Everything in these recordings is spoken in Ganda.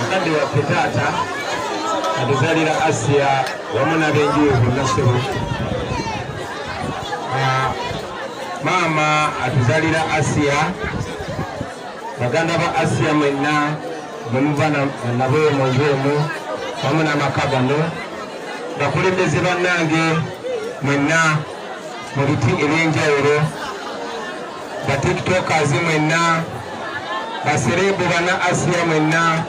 mukadde waffe taata atuzalira asiya wamu nabenjuyo bonna sebo ah, maama atuzalira asiya baganda ba asiya mwenna mwemuva nabo munju emu wamu namaka gano bakulembeze bannange mwenna mu biti ebyenjawulo ba tiktokers mwenna basereebu bana asiya mwenna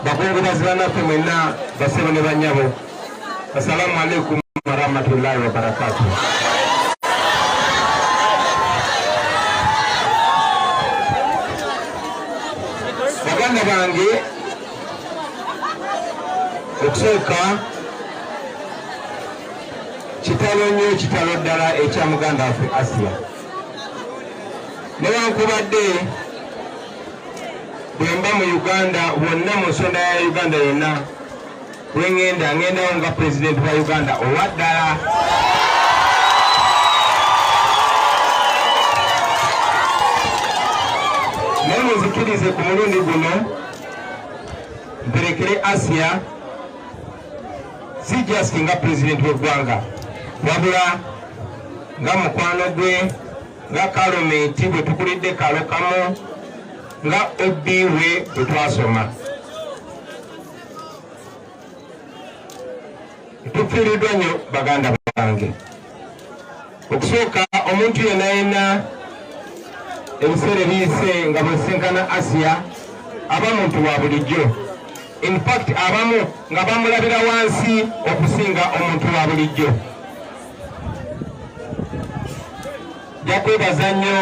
bakungubazi banaffe mwenna basebo ne banyabo assalamu alaikum warahmatullahi wabarakatuh baganda bange okusooka kitalo nnyo kitalo ddala ekya muganda waffe asiya newankubadde bwemba mu uganda wonna mu nsonda ya uganda yonna bwengenda ngendawo nga pulezidenti wa uganda owa ddala naye muzikirize ku mulundi guno mperekere asiya si just nga pulezidenti w'eggwanga wabula nga mukwano gwe nga kalomenti bwe tukulidde kalokamu nga ob we bwe twasoma tufiiriddwa nnyo baganda bange okusooka omuntu yena yena ebiseera ebiyise nga bwesinkana asiya aba muntu wa bulijjo infact abamu nga bamulabira wansi okusinga omuntu wa bulijjo jakwebaza nnyo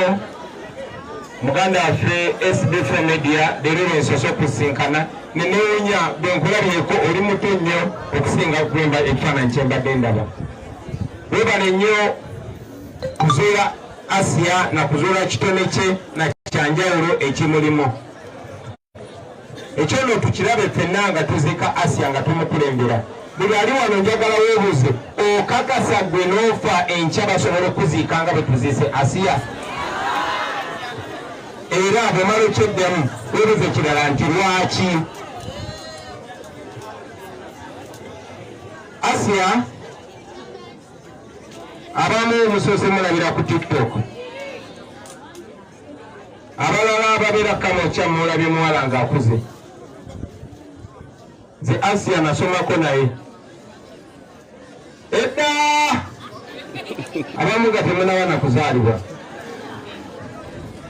muganda waffe sdf media leero lwensosa okusinkana nenewunya bwenkulabyeko oli muto nnyo okusinga okwemba ekifaananyi kyembadde ndaba webale nnyo kuzuula asiya nakuzuula kitone kye na kyanjawulo ekimulimu ekyo no tukirabe fenna nga tuzika asiya nga tumukulembera buli ali wano njagala webuuze okakasa gwe n'ofa enkya basobola okuziika nga bwe tuziise asiya era bwemala ekyeddamu webuuze kirala nti lwaki Asia abamu musoose mulabira ku tiktok abalala ababeera kamokya mulabye muwala nga akuze nze asia nasomako naye edda abamu nga temunaba nakuzaalibwa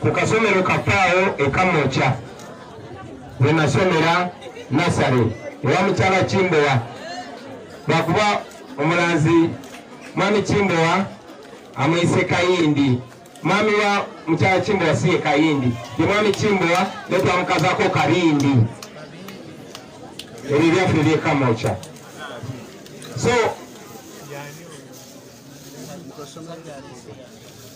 ku kasomero kapaawo ekamokya we nasomera nasale ewa mukyala kimbowa lwakuba omulanzi mwami kimbowa amwise kayindi mwami wa mukyala kimbowa siye kayindi ye mwami kimbowa netwamukazako kabindi ebyo byaffe ebyekamokya so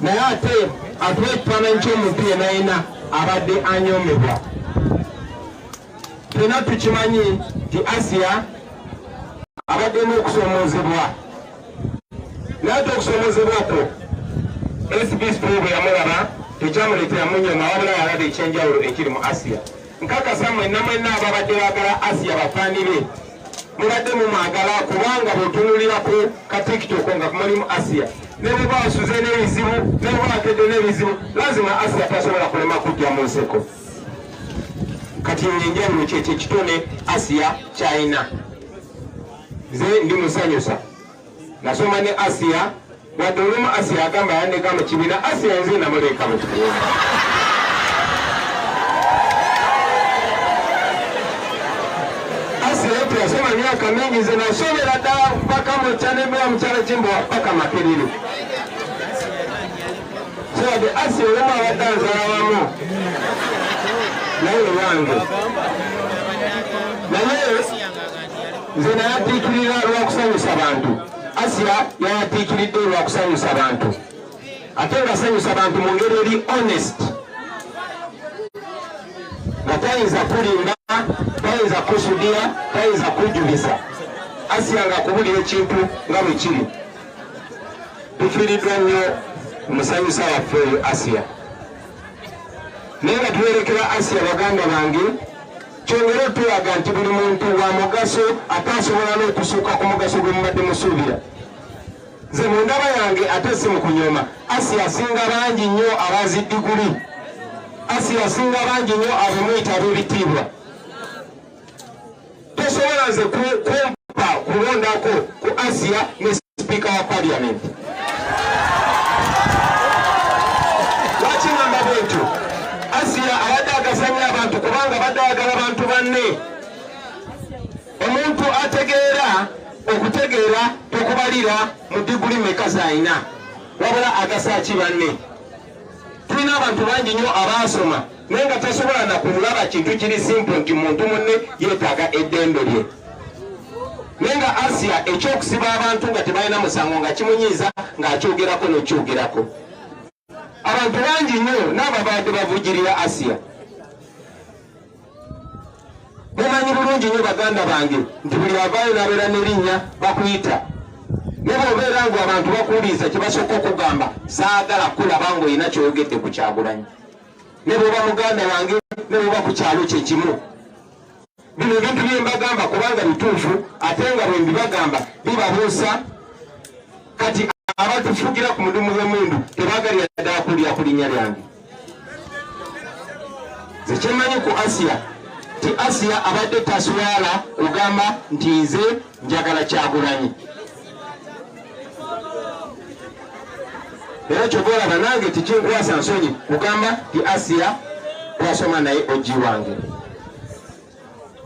naye ate atuwa ekifaananyi ky'omuntu yena yena abadde anyomebwa tena tukimanyi nti asiya abadde n'okusomoozebwa naye ate okusomoozebwa kwo sbs bwe yamulaba tekyamuleetera munyoma wabula yalaba ekyenjawulo ekiri mu asiya Nkakasa mwenna mwenna ababadde baagala Asiya bafaani be mubadde mumwagala kubanga bwetunulira ku katiktoko nga kumulimu asiya nebuba asuze nebizibu nebuba akedde nebizibu lazima asiya tasobola kulema kujja mu nseko kati enjawulo kyekyo ekitone asiya kyayina nze ndi musanyusa nasoma ne asiya wadde olumu asiya agamba yandeka mu kibiina asiya nze namuleeka mu kibiina yasoma myaka mingi nze nasomera ddala mpaka mukyanembewa mukyalo kimbowa paka makiriri sowade asi olumu abadde anzala wamu naye owange naye nze nayatiikirira lwakusanyusa bantu asiya yayatiikiridde lwakusanyusa bantu ate ngasanyusa bantu mu ngeri eri honest nga tayinza kulimba tayinza kusudiya tayinza kujulisa asiya nga kubulira ekintu nga bwe kiri tufiiriddwa nnyo omusanyusa waffe oyo asiya naye nga tuwerekera asiya baganda bange Kyongera okutulaga nti buli muntu wa mugaso ate asobola n'okusuuka ku mugaso gwe mubadde musuubira. Nze mu ndaba yange ate si mu kunyoma, asi asinga bangi nnyo abazi diguli, asi asinga bangi nnyo abamuyita ab'ebitiibwa. Tosobola nze kumpa kulondako ku Asiya ne sipiika wa parliament lwaki ngamba bwentyo asiya abadde agasanya abantu kubanga badde ayagala bantu banne omuntu ategeera okutegeera tokubalira mu diguli meka zalina wabula agasaki banne tulina abantu bangi nnyo abaasoma naye nga tasobola nakulaba kintu kiri simple nti muntu munne yetaaga eddembe lye naye nga asia ekyokusiba abantu nga tebalina musango nga kimunyiiza ng'akyogerako nekyogerako abantu bangi nnyo n'ababadde bavugirira asia mumanyi bulungi nnyo baganda bange nti buli avaayo n'abeera n'erinnya bakuyita naye bwobeera ngu abantu bakuwuliriza kye basooka okugamba saagala kulaba ng'olina kyoyogedde ku kyagulanyi ne bwoba muganda wange ne bwoba ku kyalo kye kimu bino ebintu bye mbagamba kubanga bituufu ate nga bwe mbibagamba bibabuusa kati abatufugira ku mudumu gw'emundu tebagalira ddala kulya ku linnya lyange zekyemanyi ku asiya ti asiya abadde taswala kugamba nti nze njagala kyagulanyi era kyova olaba nange tekinkwasa nsonyi kugamba ti asiya twasoma naye oji wange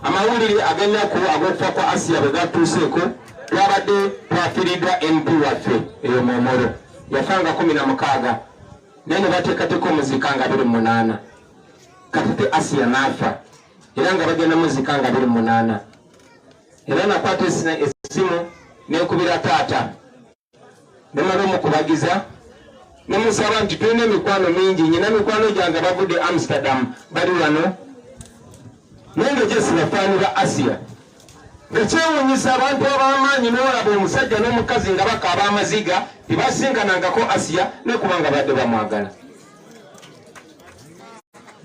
amawulire agennaku ag'okufa kwa asiya bwe gatuuseeko twabadde twafiiriddwa mp waffe eyo momoro yafa nga kumi na mukaaga naye ne bateekateeka omuzika nga biri munaana katete asiya naafa era nga bagenda muzika nga biri munaana era nakwata essimu nekubira taata nemala omukubagiza nemusaba nti tulina emikwano mingi nyina mikwano gyange bavudde amsterdam bali wano naye nga gyesibafaani ba asiya ekyewunyisa abantu abamaanyi nolaba omusajja n'omukazi nga bakaaba amaziga tebasinkanangako asiya nekubanga badde bamwagala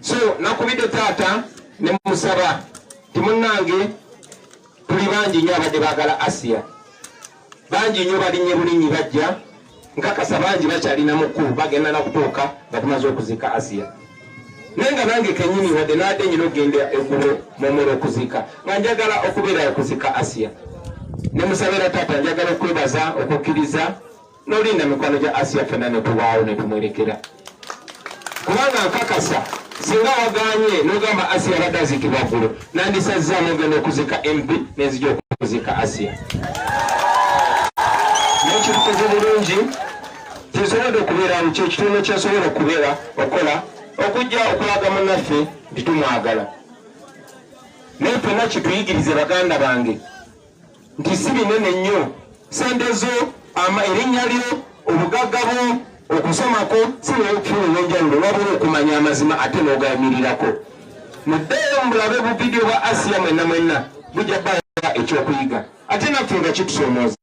so nakubidde taata nemusaba timunange tuli bangi nyo abadde bagala asiya bangi nyo balinye bulinyi bajja nkakasa bangi bakyalina muku bagenda nakutuuka nga tumaze okuzika asiya naye nga nange kenyini wadde nadde nyina okugenda egulo mumula okuzika nga njagala okubeera okuzika asiya nemusabira taata njagala okwebaza okukkiriza nolinda mikwano gya asiya fena netubaawo netumwerekera kubanga nkakasa singa waganye nogamba asiya abadde azikibwa ggulo nandisazza nogenda okuzika mp nenzija okuzika asiya nekitukoze bulungi tesobodde okubeerawo kyekitundu kyasobola okubeera okola okujja okulaga munaffe nti tumwagala naye fena kituyigirize baganda bange nti si binene nnyo sente zo ama erinnya lyo obugagga bwo okusomako sibula okufuna olwenjawulo wabula okumanya amazima ate n'ogayimirirako muddeeyo mubulabe buvidiyo bwa asiya mwenna mwenna bujja baa ekyokuyiga ate naffe nga kitusomooza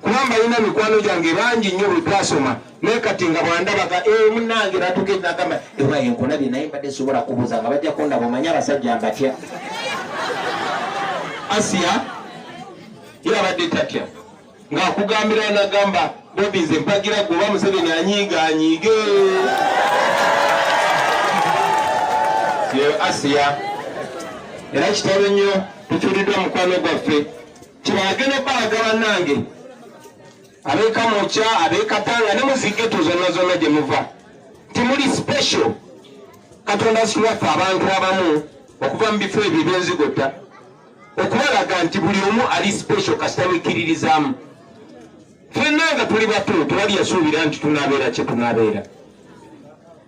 kuba mbalina mikwano gyange bangi nnyo bwe twasoma naye kati nga bwandabaga e eh, munange natuka enagamba ewa enkulabye naye mbadde sobola kubuza nga bajja kundaba omanye abasajja mbatya asiya ye abadde tatya ng'akugambira nagamba bobi nze mpagira gwe oba museveni anyiiga anyiige asiya era kitalo nnyo tukyuliddwa mukwano gwaffe Kibagene baga banange abeka mucha abeka tanga ne muzige tuzona zona gye muva timuli special katonda siwafa abantu abamu okuva mu bifo ebyo ebyenzigota okubalaga nti buli omu ali special kasita wikiririzamu fenna nga tuli batu tewali yasuubira nti tunabeera kye tunabeera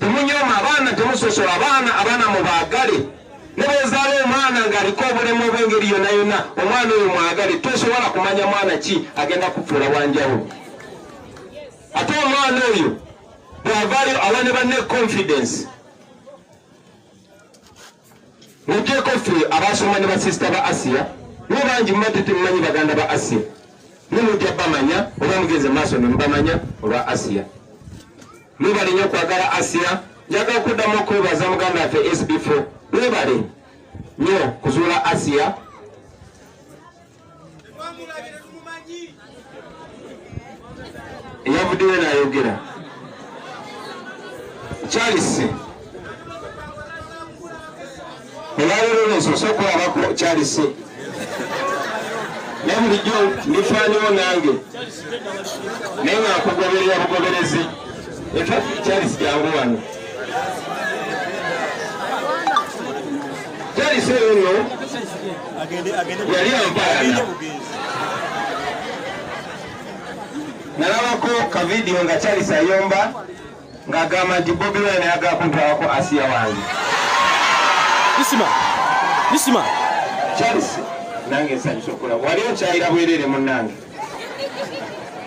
Temunyoma abaana, temusosola abaana, abaana mubaagale ne bwezaala omwana ng'aliko obulemu obw'engeri yonna yonna, omwana oyo mwagale. Tosobola kumanya mwana ki agenda kufuula wanjawulo. Ate omwana oyo bw'avaayo awa ne banne confidence. Mugyeko ffe abaasoma ne basisita ba Asiya, mwe bangi muba tetumanyi baganda ba Asiya. Mwe mujja bamanya oba mugenze maaso ne mubamanya olwa Asiya. Mwebale nnyo kwagala Asiya. Njagala okuddamu okwebaza muganda waffe SB4. Mwebale nnyo kuzuula Asiya. eyavuddeyo nayogera charles olwalero nensose okulabako charles naye bulijjo ndifaaniwo nange naye nga nkugoberera bugoberezi efa charles jangu wano charles eyo no yali ayagala nalabako kavidiyo nga charles ayomba ng'agamba nti bobi wine ayaga kuntwalako asiya wange isima isima charles nange nsanyusa okulaba wali okyayira bwerere munange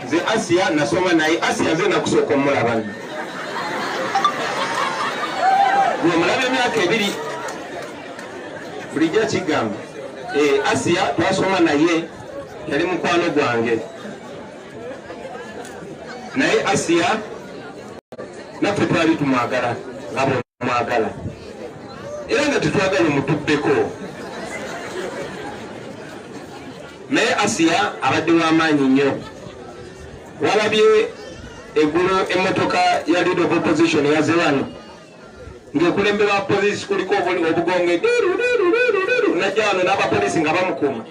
nze asiya nasoma naye asiya nze nakusooka omulaba nomulaba emyaka ebiri bulijjo kigamba eh, asiya twasoma naye yali mukwano gwange naye asiya naffe twali tumwagala nga bwemwagala era nga tetwagala omutubbeko Naye Asiya abadde w'amaanyi nnyo. Walabye eggulo emmotoka ya Leader of Opposition yaze wano ng'ekulemberwa poliisi kuliko obugonge najja wano n'abapoliisi nga bamukuuma.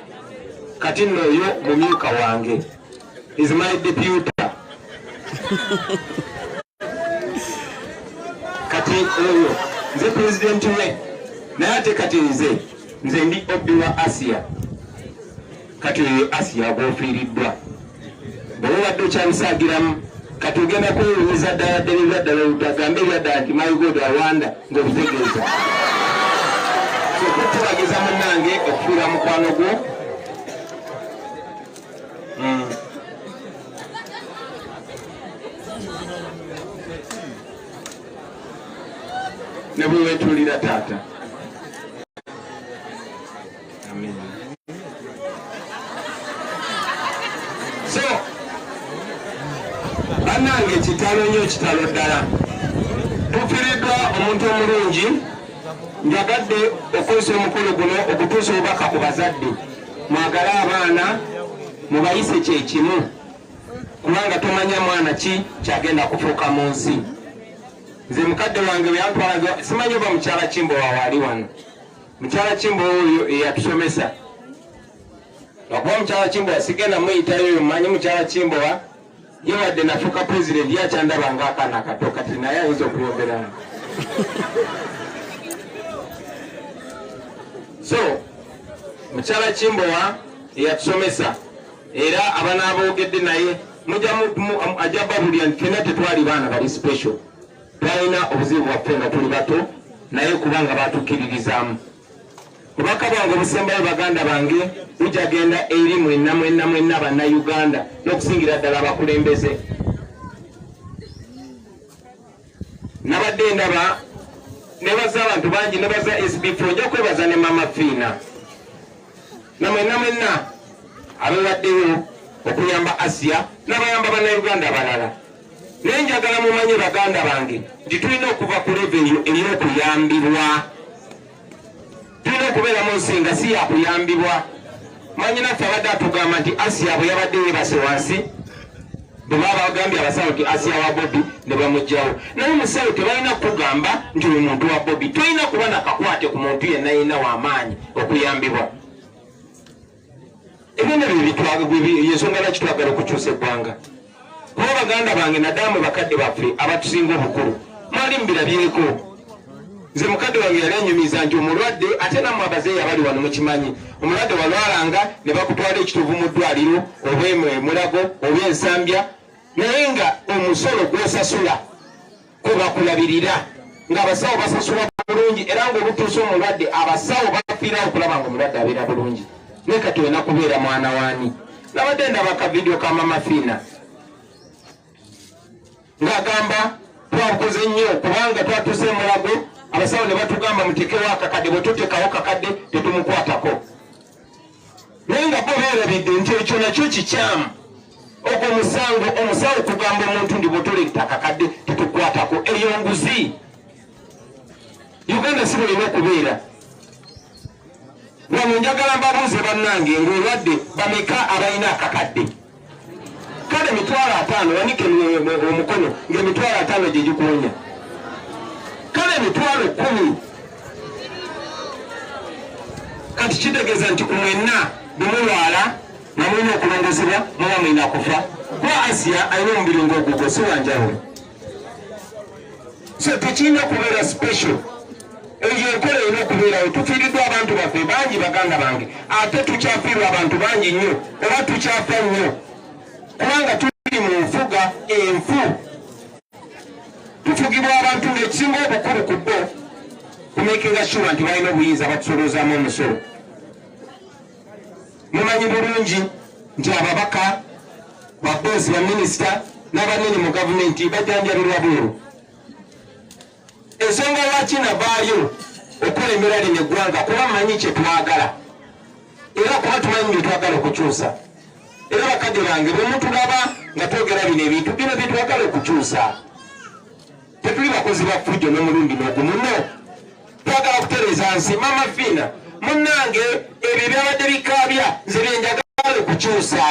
Kati nno oyo mumyuka wange is my deputy. kati oyo nze pulezidenti we naye ate kati nze nze ndi obi wa asiya kati oyo asiya gwofiiriddwa bwoba obadde okyabisaagiramu kati ogenda kwewunyiza ddala ddala ebyaddala oludagambe ebyaddala nti my god awanda ngaobitegeeza okutubagiza munange okufiira mukwano gwo Mm. ne bwe weetuulira taata so bannange kitalo nnyo kitalo ddala tufiriddwa omuntu omulungi njagadde okozesa omukolo guno okutuusa obubaka ku bazadde mwagale abaana mubayise kyekimu kubanga tomanya mwana ki kyagenda kufuuka mu nsi nze mukadde wange weyantwalaga simanyi oba mukyala kimbowa waali wano mukyala kimbowa oyo eyatusomesa lwakuba mukyala kimbowa sigenda muyitayo manyi mukyala kimbowa ye wadde nafuuka president yakyandaba nga akaana akato kati naye ayinza okuyomberamu so mukyala kimbowa eyatusomesa era abana aboogedde naye ajja babulira nti fena tetwali baana bali special twalina obuzibu bwaffe nga tuli bato naye kubanga batukkiririzaamu obubaka bwange obusembayo baganda bange bujagenda eri mwenna mwenna mwenna bannayuganda n'okusingira ddala abakulembeze nabadde ndaba nebaza abantu bangi nebaza sbf ojja kwebaza ne mama fiina namwenna mwenna abewaddeyo okuyamba asiya nabayamba bannayuganda abalala naye njagala mumanye baganda bange nti tulina okuva ku leve eyo ey'okuyambibwa tulina okubeera mu nsi nga si yakuyambibwa manyi naffe abadde atugamba nti asiya bwe yabadde yebase wansi bwebaba bagambye abasawo nti asiya wa bobi ne bamugjawo naye musawo tebalina kukugamba nti oyo muntu wa bobi tolina kuba nakakwate ku muntu yenna yenna wamaanyi okuyambibwa ebintu yensonga lwaki twagala okukyusa eggwanga kuba baganda bange nadamu bakadde baffe abatusinga obukulu mwali mubirabyeko nze mukadde wange yali anyumiza nti omulwadde ate namwe abazeeyi abali wano mukimanyi omulwadde walwalanga ne bakutwala ekitovu mu ddwaliro oba emulago oba ensambya naye nga omusolo gwosasula kwe bakulabirira ng'abasawo basasula bulungi era ng'olutuusa omulwadde abasawo bafiira okulaba nga omulwadde abeera bulungi naye kati olina kubeera mwana waani nabadde ndaba ka vidiyo ka mama fiina ng'agamba twakoze nnyo kubanga twatuuse emulago abasawo ne batugamba mutekewo akakadde bwe tutekawo kakadde tetumukwatako naye nga bo beerabidde nti ekyo nakyo kikyamu ogwo musango omusawo okugamba omuntu ndi bwotola ettaka kadde tetukwatako eyo nguzi uganda si bulina okubeera wano njagala mbabuuze bannange ngaolwadde bameka abalina akakadde kale emitwalo ataano wanike omukono ngaemitwalo ataano gyegikuwonya kale emitwalo kumi kati kitegeeza nti kumwenna bemulwala namulina okulongozebwa muba mulina kufa kuba asiya alina omubiri ngaogugo siwanjawulo so tekirina kubeera special eyo enkola erina okubeerawo tufiiriddwa abantu baffe bangi baganda bange ate tukyafiirwa abantu bangi nnyo oba tukyafa nnyo kubanga tuli mu nfuga enfu tufugibwa abantu ngaekisinga obukulu ku bo kumekinga shuwa nti balina obuyinza batusoloozamu omusolo mumanyi bulungi nti ababaka babozi baminisita n'abanene mu gavumenti bajanjabirwa bweru ensonga lwaki navaayo okulembera lino eggwanga kuba manyi kyetwagala era kuba tumanyi byetwagala okukyusa era bakadde bange bwemutulaba nga twogera bino ebintu bino byetwagala okukyusa tetuli bakozi ba fujjo nomulundi nogumu no twagala kutereza nsi mama fiina Munnange ebyo ebyabadde bikaabya nze bye njagala okukyusa.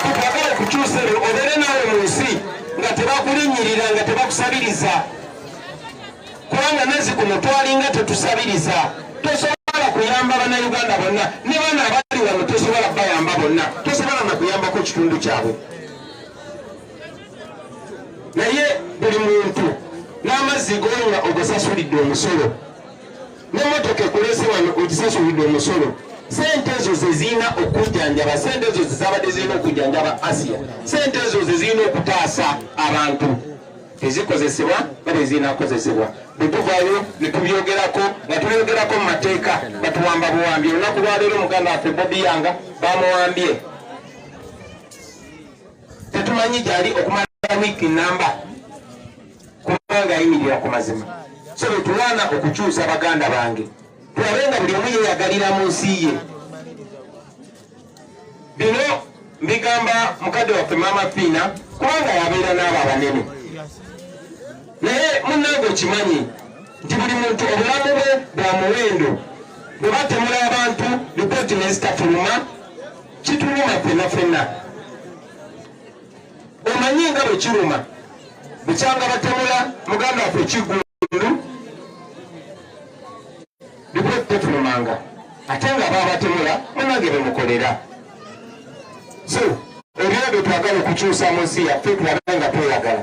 Twagala okukyusa ebyo obeere naawe mu nsi nga tebakulinnyirira nga tebakusabiriza kubanga nazi kuno twalinga tetusabiriza tosobola kuyamba bannayuganda bonna ne bana abali wano tosobola bayamba bonna tosobola na kuyambako kitundu kyabwe naye buli muntu n'amazzi gonywa ogasasulidde omusolo nemotoka ekulese wano ogisasulidde omusolo sente ezo zezirina okujjanjaba sente ezo zezabadde zirina okujjanjaba asiya sente ezo zezirina okutaasa abantu tezikozesebwa nga bwezirinakozesebwa bwetuvayo netubyogerako nga tubyogerako mu mateeka batuwamba buwambi olunaku lwaleero muganda waffe bobiyanga bamuwambye tetumanyi gyali okumala wiiki namba kubanga ayimirira ku mazima so bwetulwana okukyusa baganda bange tulabe nga buli omu yeyagalira mu nsi ye bino mbigamba mukadde waffe maama fiina kubanga yabeera n'abo abanene naye munange okimanyi nti buli muntu obulamu bwe bwa muwendo bwe batemula abantu lipooti nezitafuluma kituluma fenna fenna omanyi nga bwe kiruma bukyanga batemula muganda waffe kiggundu bibwetetunumanga ate nga babatemula munange bemukolera so ebyo bye twagala okukyusa mu nsi yaffe tulabe nga tweyagala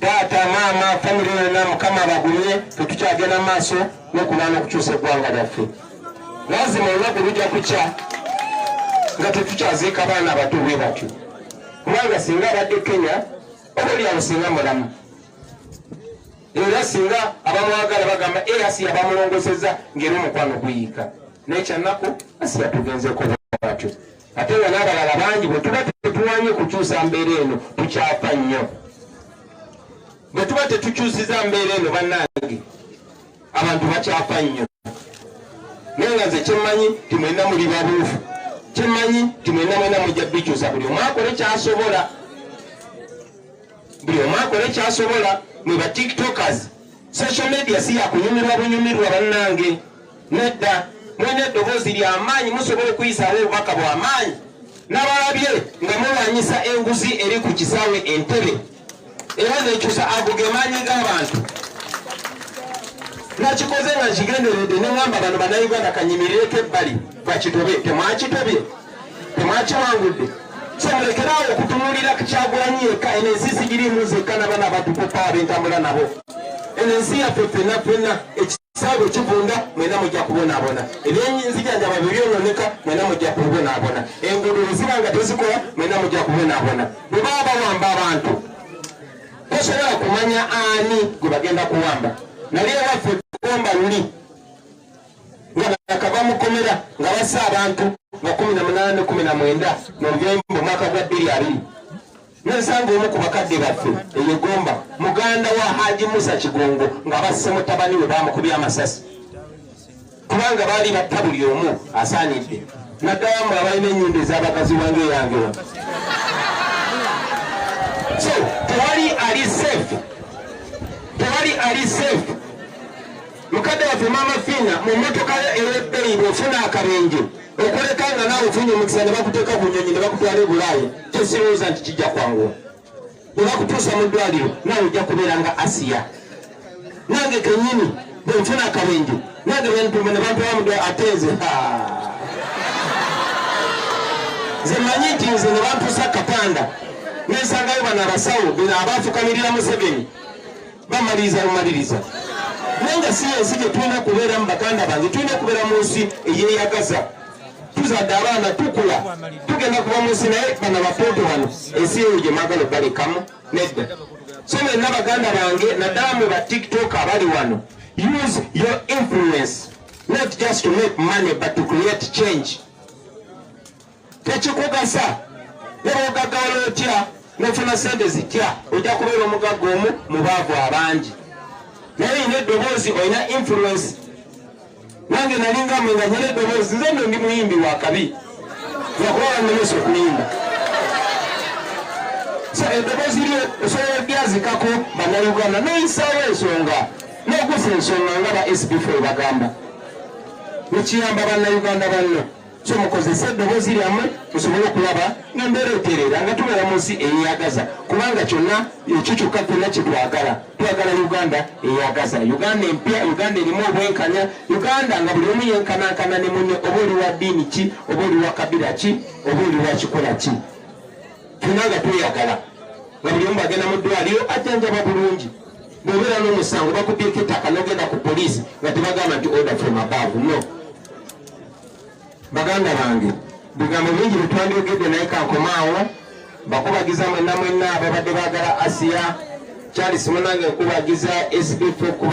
taata maama famire yonna mukama abagumye tetukyagenda mu maaso nokubaana okukyusa eggwanga lyaffe lazima olunaku lujja kukya nga tetukyaziika baana abato bwe batyo kubanga singa abadde kenya oba olyawo singa mulamu era singa abamwagala bagamba easi eh, yabamulongoseza ngaera omukwano guyiika naye kyanaku asi yatugenzeeko batyo ate nga n'abalala bangi bwe tuba tetuwanye kukyusa mbeera eno tukyafa nnyo bwe tuba tetukyusiza mbeera eno bannange abantu bakyafa nnyo naye nga nze kyemmanyi timwena muli babuufu kyemmanyi timwena mwena mujja bikyusa buli omwakola ekyasobola buli omu akole kyasobola mwe ba tiktokers social media si yakunyumirwa bunyumirwa bannange nedda mulina eddoboozi lyamaanyi musobola okuyisaawo obubaka bwamaanyi nabalabye nga mulwanyisa enguzi eri ku kisaawe entebe era nekyusa ago gemaanyi g'abantu nakikoze nga nkigenderedde neŋamba bano banauganda kanyimirireko ebbali bakitobe temwakitobye temwakiwangudde kyemulekerawo okutunulira kukyagulanyi yekka eno ensi sigirimu zekka nabana abatukuka abentambula nabo eno ensi yaffe fenna fenna ekisaawe kivunda mwena mujja kubonabona ebyenzijanjaba byebyononeka mwena mujja kubonabona enguudo eziba nga tezikola mwena mujja kubonabona bwebaba bawamba abantu tosobola kumanya ani gwe bagenda kuwamba naye waffe gomba luli nga bakava mu kkomera nga bassa abantu nga kumi na munaana ne kumi na mwenda mu lubembo mwaka gwa bbiri abiri nensanga omu ku bakadde baffe eyegomba muganda wa haji musa kigongo nga basse mutabani we bamukubye amasasi kubanga baali batta buli omu asaanidde naddala mu abalina ennyumba ez'abakazi wange eyange wa so tewali ali safe tewali ali safe Mukadde waffe Maama Fiina mu mmotoka yo ey'ebbeeyi bw'ofuna akabenje okuleka nga naawe ofunye omukisa ne bakuteeka ku nnyonyi ne bakutwala e Bulaaya kyesirowooza nti kijja kwanguwa. Bwe bakutuusa mu ddwaliro naawe ojja kubeera nga Asiya. Nange kennyini bwe nfuna akabenje nange bentuma ne bantwala mu ddwaliro ate nze nze mmanyi nti nze ne bantuusa katanda nensangayo bano abasawo bino abaafukamirira Museveni bamaliriza bumaliriza naye nga si ensi gye tulina kubeeramu baganda bange tulina okubeera mu nsi eyeyagaza tuzadde abaana tukula tugenda kuba mu nsi naye bana bapoto wano ensi eyo gye mwagala obalekamu nedda so mwenna baganda bange naddala mu ba tiktok abali wano use your influence not just to make money but to create change tekikugasa nebwogagawala otya nofuna sente zitya ojja kubeera omugagga omu mu baavu abangi naye olina eddoboozi olina influence nange nalinga mwe nga nyina eddoboozi nze no ndi muyimbi wakabi lwakuba bannemesa okuyimba so eddoboozi lyo osobola olyazikako banauganda noyisaawo ensonga nogusa ensonga nga ba sbf ebagamba nekiyamba banauganda banno so mukozese eddoboozi lyammwe musobole okulaba nga mbeera etereera nga tubeera mu nsi eyeyagaza kubanga kyonna ekyo kyokka kyonna kyetwagala twagala uganda eyagaza uganda empya uganda erimu obwenkanya uganda nga buli omu yenkanankana ne munne oba oli wa ddiini ki oba oli wa kabira ki oba oli wa kikola ki tuna nga tweyagala nga buli omu bagenda mu ddwaliro ajjanjaba bulungi bwobeera n'omusango bakubyeko ettaka nogenda ku poliisi nga tebagamba nti order from above no baganda bange bigambo bingi byetwandyogedde naye kankomaawo bakubagiza mwenna mwenna ababadde bagala asiya charles munange nkubagiza sbf okuba